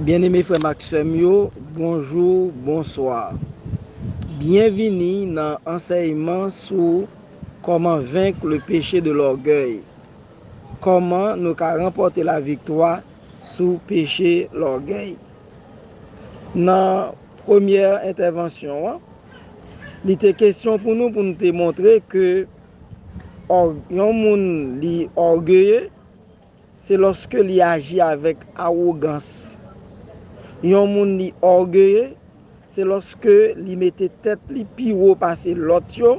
Byeneme frè m ak sè m yo, bonjou, bonswa. Byenvini nan ansèyman sou Kòman venk le peche de lògèy, Kòman nou ka ranpòte laviktwa sou peche lògèy. Nan premyè entèvansyon an, li te kesyon pou nou pou nou te montre ke yon moun li ògeye, se lòske li aji avèk awogans. Yon moun li ògeye, Se lòske li mete tèt li pi wo pase lòt yo,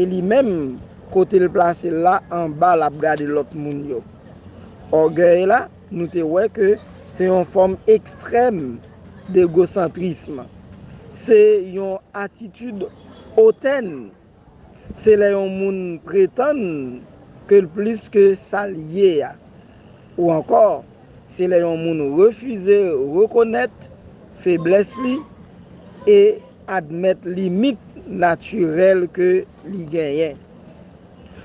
e li menm, kote l plase l la, anba l ap gade lòt moun yo. Ògèy la, nou te wè ke se yon fòm ekstrèm d'egosantrism. Se yon atitid otèn. Se lè yon moun pretann ke l plis ke sa l ye a. Ou ankò, se lè yon moun refize rekonèt feblès li e admèt limit natirèl ke li genyen.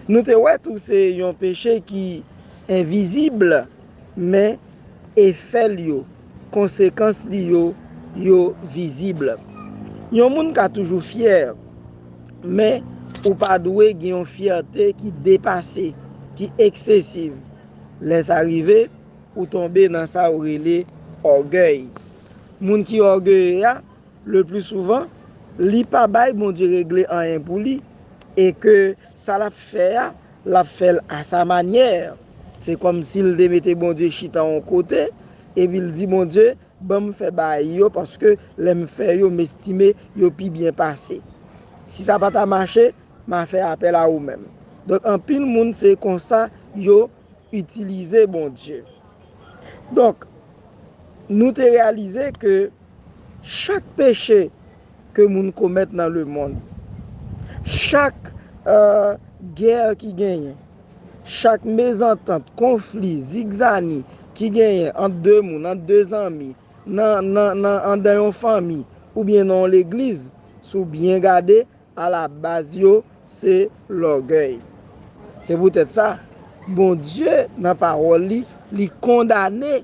Nou te wè tou se yon peche ki envizib Men, efè l yo, konsekans li yo, yo vizib. Yon moun ka toujou fyè, men, ou pa dwe gen yon fyète ki depase, ki eksesiv. Lè sa rive, ou tonbe nan sa yo rele ògèy. Moun ki ògeye a, leplisouvan, li pa bay Bondye regle anyen pou li e ke sa l ap fè a, Lap fèl a sa manyè. Se kòmsi l te mete Bondye chita on kote, epi l di Bondye, ban m fè baay yo paske lè m fè yo m estime yo pi byen pase. Si sa pa ta mache, ma fè apèl a ou menm. Donk anpil moun se konsa yo itilize Bondye. Donk, nou te reyalize ke. Chak peche ke moun komèt nan lemonn, chak gè ki genyen, chak mezantant, konfli, zigzani ki genyen ant de moun, ant de zanmi, andan yon fanmi oubyen nan yon legliz, si w byen gade, alabaz yo se lògèy. Se poutèt sa, Bondye nan Pawòl li, li kondane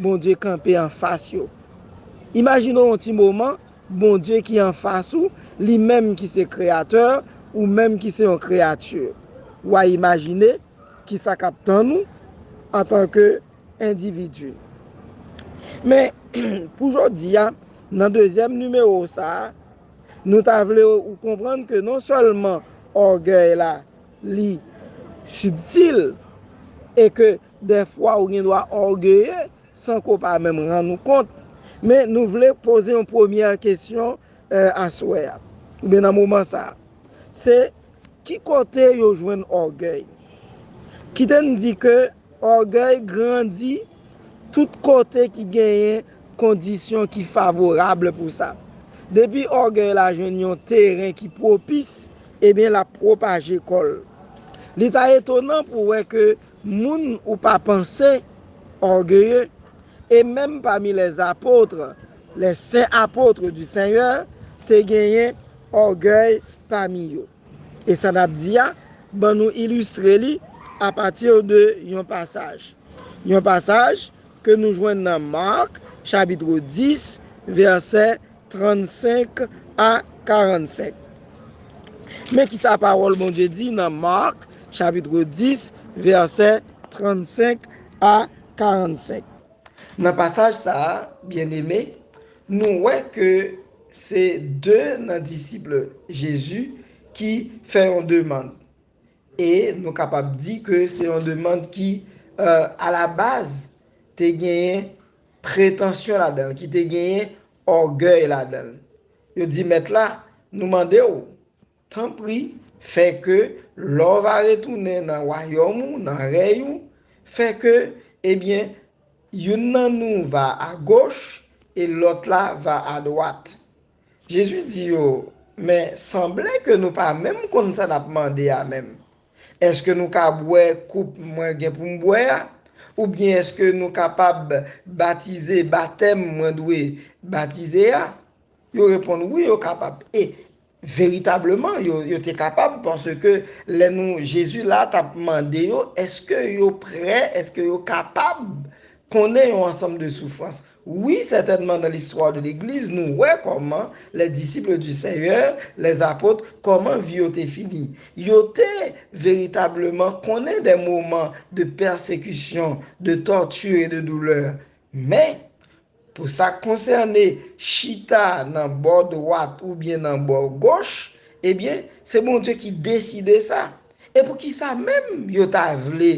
Bondye kanpe anfas yo. Imajine w yon ti moman, Bondye ki anfas ou, li menm ki se Kreyatè, ou menm ki se yon kreyati. Wa imajine ki sa k ap tann ou antanke endividi. Men, pou jodi a, nan dezyèm nimewo sa a, nou ta vle ou konprann ke non sèlman ògèy la li sibtil e ke Dèfwa ou gen dwa ògeye san ke w pa menm rann ou kont. Men nou vle poze yon premyè kesyon aswè a, oubyen nan moman sa a. Se, ki kote yo jwenn ògèy? Kite n di ke ògèy grandi tout kote ki genyen kondisyon ki favorab pou sa. Depi ògèy la jwenn yon teren ki pwopis, ebyen l ap pwopaje kò l. Li ta etonan pou wè ke Moun ou pa panse, orgueilleux, e menm pami les apôtres, les saints apôtres du Seigneur, te genyen orgueil pami yo. E sa nap di a, ban nou illustre li a partir de yon pasaj. Yon pasaj ke nou jwenn nan Marc chapitre 10 verset 34. 35 a 45. Men ki sa pawòl Bondye di nan Mak chapitre 10 vèsè 35 a 45. Nan pasaj sa a, byenneme, nou wè ke se de nan disip Jezi ki fè yon demand. E nou kapab di ke se yon demand ki alabaz te genyen. pretansyon ladan l, ki te genyen ògèy ladan l. Yo di mèt la, Nou mande w, tanpri, fè ke lè w va retounen nan wayòm ou, nan rèy ou, fè ke, ebyen, youn nan nou va agoch e lòt la va adwat. Jezi di yo, Men, sanble ke nou pa menm konn sa n ap mande a menm. Èske nou ka bwè koup mwen gen pou m bwè a? Oubyen èske nou kapab batize batèm mwen dwe batize a? Yo reponn, Wi, yo kapab. E, veritableman, yo te kapab, paske lè nou, Jezi la t ap mande yo èske yo prè, èske yo kapab konnen yon ansanm de soufrans. Wi, sètènman nan listwa de legliz nou wè kòman les disciples du Seigneur, les apôtres, kòman vi yo te fini. Yo te veritableman konnen des moments de persécution, de torture et de douleur. Men, pou sa k konsène chita nan bò dwat oubyen nan bò goch, ebyen, se Bondye ki deside sa. E poukisa menm yo ta vle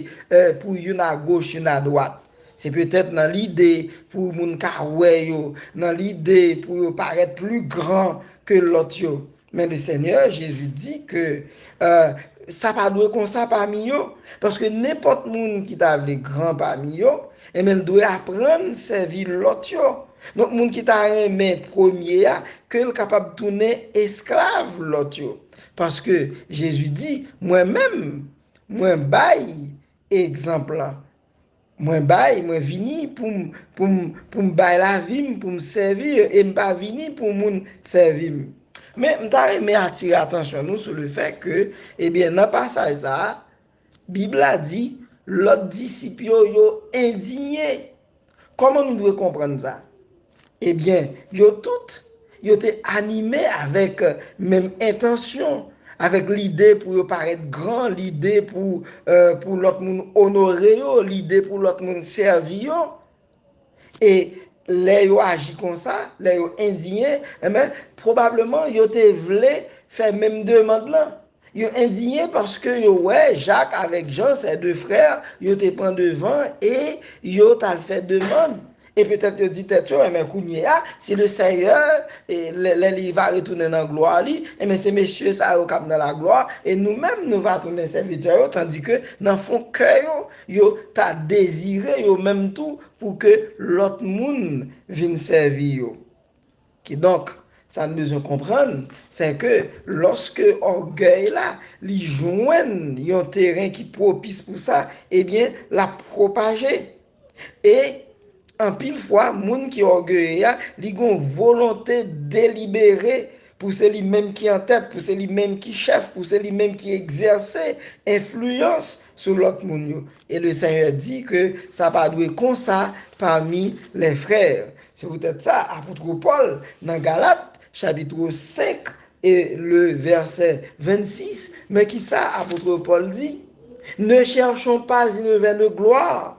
pou youn agoch youn adwat? Se petèt nan lide pou moun ka wè yo, nan lide pou yo parèt pli gran ke lòt yo. Men Lesenyè Jezi di ke sa pa dwe konsa pami yo, paske nenpòt moun ki ta vle gran pami yo, enben l dwe aprann sèvi lòt yo. Donk moun ki ta renmen premye a, ke l kapab tounen esklav lòt yo. Paske, Jezi di, Mwen menm, mwen bay egzanp lan. Mwen bay, mwen vini pou m, pou m, pou m bay lavi m, pou m sèvi yo, e m pa vini pou moun sèvi m. Men, m ta renmen atire atansyon nou sou lefè ke, ebyen, nan pasaj sa a, Bib la di, Lòt disip yo, yo endiye. Kòman nou dwe konprann sa? Ebyen, yo tout, yo te anime avèk menm entansyon, avèk lide pou yo parèt gran, lide pou lòt moun onore yo, lide pou lòt moun sèvi yo. E lè yo aji konsa, lè yo endiye, enben, pwobableman yo te vle fè menm demand lan. Yo endiye paske yo wè Jak avèk Jan, sè de frè, yo te pran devan e yo t al fè demand. E petèt yo di tèt yo, enben, kounye a, si Leseyè, lè li va retounen nan glwa li, enben, se mesye sa yo k ap nan laglwa e nou menm nou va tounen sèvitè yo, tandike nan fon kè yo, Yo ta dezire yo menm tou pou ke lòt moun vin sèvi yo. Kidonk, sa n bezwen konprann, sè ke lòske ògèy la, li jwenn yon teren ki pwopis pou sa, ebyen, l ap pwopaje. E, Anpil fwa, moun ki ògeye a, li gen yon volonte delibere pou se li menm ki antèt, pou se li menm ki chèf, pou se li menm ki egzèse enfliyans sou lòt moun yo. E Lesenyè di ke sa pa dwe konsa pami lè frè. Se poutèt sa, apotre Pòl, nan Galat, chapitro 5 e le vèsè 26, men kisa apotre Pòl di, Ne chèchon pas inevè de glwa,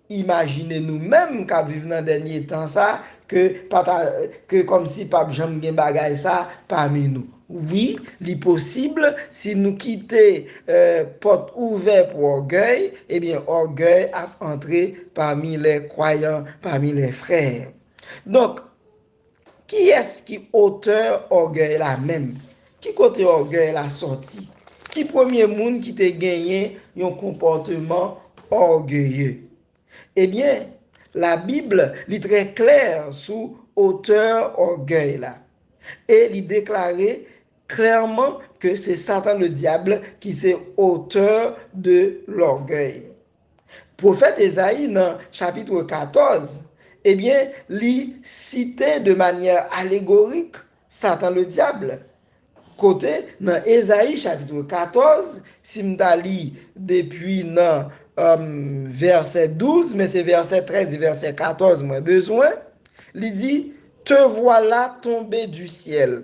Imajine nou menm k ap viv nan dènye tan sa ke pa ta ke kòmsi pa p janm gen bagay sa pami nou. Wi, li posib si nou kite pòt ouvè pou ògèy, ebyen ògèy ap antre pami lè kwayan, pami lè frè. Donk, Kiyès ki otè ògèy la menm? Ki kote ògèy la sòti? Ki premye moun ki te genyen yon konpòteman ògeye? Ebyen, Labib li trè klè sou otè ògèy la e li deklare klèman ke se Satan Ledyab ki se otè de lògèy. Pwofèt Ezayi nan chapitre 14, ebyen li site de manyè alegorik Satan le Diable, kote nan Ezayi chapitre 14, si m ta li depi nan vèsè 12, men se vèsè 13 e vèsè 14 mwen bezwen, li di, Te vwala tonbe du syèl,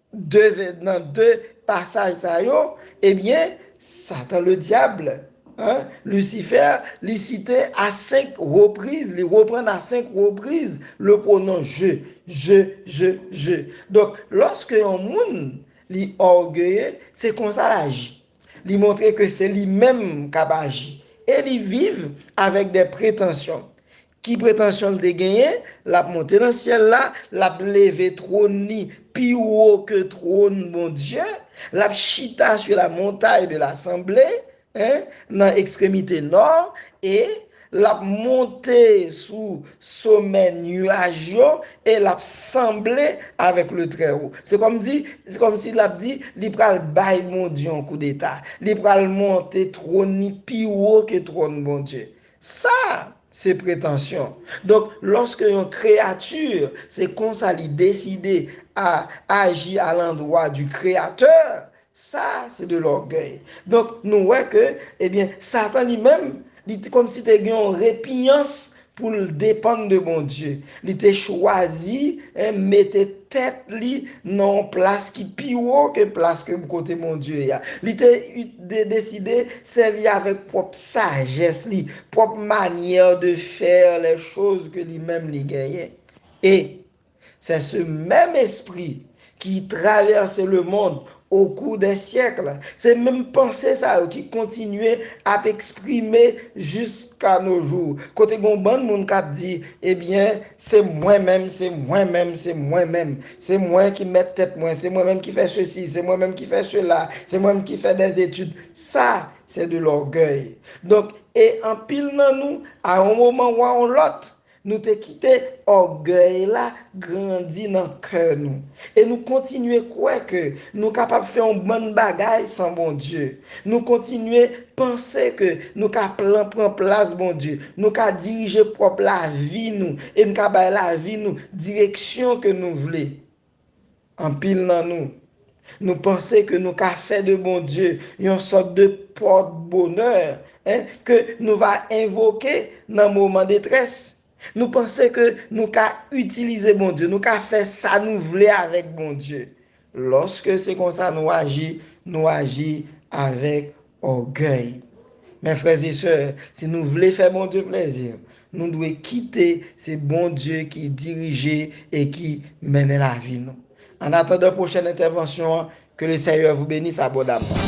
2 vè nan 2 pasaj sa yo ebyen satan le diable hein Lucifer li site a 5 repriz li reprann a 5 repriz le pronom je je je je donk loske yon moun li orgueye se konsa l aji li montre ke se li menm kap aji e li viv avèk dè pretansyon Ki pretansyon l te genyen? L ap monte nan syèl la, l ap leve twòn li pi wo ke twòn Bondye, l ap chita sou la montaye de lasanble, nan ekstremite nò, e, l ap monte sou somè nuaj yo, e l ap sanble avèk le Trèwo. Se kòmdi, se kòmsi l ap di, li pral bay Bondye yon koudeta. Li pral monte twòn li pi wo ke twòn Bondye. Sa se pretansyon. Donk, lòske yon kreyati, se konsa li deside, a, aji a landwa di Kreyatè, sa se de lògèy. Donk, nou wè ke, ebyen, Satan li menm, li te kòm si te gen yon repinyans pou l depann de Bondye. Li te chwazi, en, mete tèt li nan yon plas ki pi wo ke plas ke kote Bondye ye a. Li te deside sèvi avèk pwòp Sagesse li, prop manière de faire les choses ke li menm li genyen. Et c'est ce même esprit ki traverse le monde au cours des siècles. Se menm panse sa yo ki kontinye ap exprime jusqu'à nos jours. Kote gon bann moun kap di, eh bien, se mwen menm, se mwen menm, se mwen menm. Se mwen ki mèt tèt mwen, se mwen menm ki fè ceci, se mwen menm ki fè cela, se mwen menm ki fè des études. Sa Se de lògèy. Donk, e anpil nan nou, a yon moman ou a yon lòt, nou te kite ògèy la grandi nan kè nou. E nou kontinye kwè ke nou kapab fè yon bann bagay san Bondye. Nou kontinye panse ke nou ka plan pran plas Bondye, nou ka dirije pwòp lavi nou e n ka bay lavi nou direksyon ke nou vle. Anpil nan nou, nou panse ke nou ka fè de Bondye yon sòt de pòt bonè ke nou va envoke nan moman detrès. Nou panse ke nou ka itilize Bondye, nou ka fè sa nou vle avèk Bondye. Lòske se konsa nou aji, nou aji avèk Ògèy. Men frèzesè, si nou vle fè Bondye plezi, nou dwe kite se Bondye ki dirije e ki mennen lavi nou. An atandan pwochèn entèvansyon an, ke le Senyè vou benis abondamman.